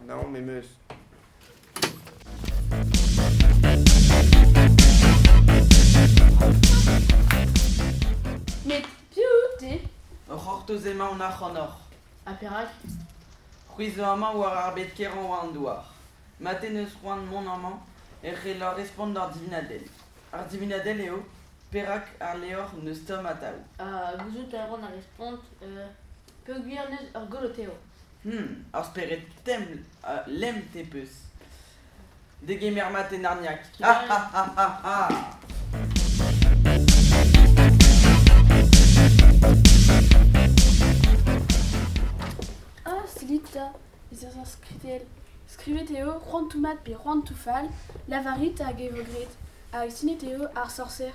Naon em eus. Met piv out-te? Ur c'hortoz emaon ac'hanoc'h. Ha perak? C'hwi zo amañ war ar bed kerañ war an douar. Mat en eus c'hoant mont amañ e c'hellor respont d'ar divinadell. Ar divinadell eo perak ar levr n'eus tamm atav. Ha gouzout a ran ar respont peogwir n'eus ur golo tev. Hmm, ar spered templ a lemte peus. Degemer mat e Narniac. Ha ha ha ha ha! Ah, seguit ta, ez eus ar skritell. Skrivet eo c'hoantoù mat pe c'hoantoù fall, lavarit hag e vo graet. Hag sinet eo ar sorser.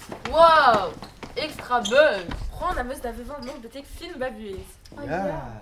Wow! Extra buzz! Franc am eus da vezañ donc betek fin va buhez. Oh yeah!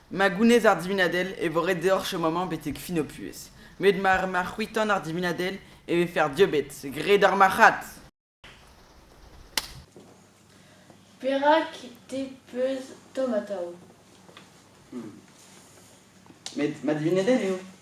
Ma gounez ar divinadell e vo ret deoc'h chom amañ betek fin ho puhez. Met mar ma c'hwitan ar divinadell e vefe ar diobed. Graet ar marc'had! Perak te peus tomm atav? Met ma divinadell eo.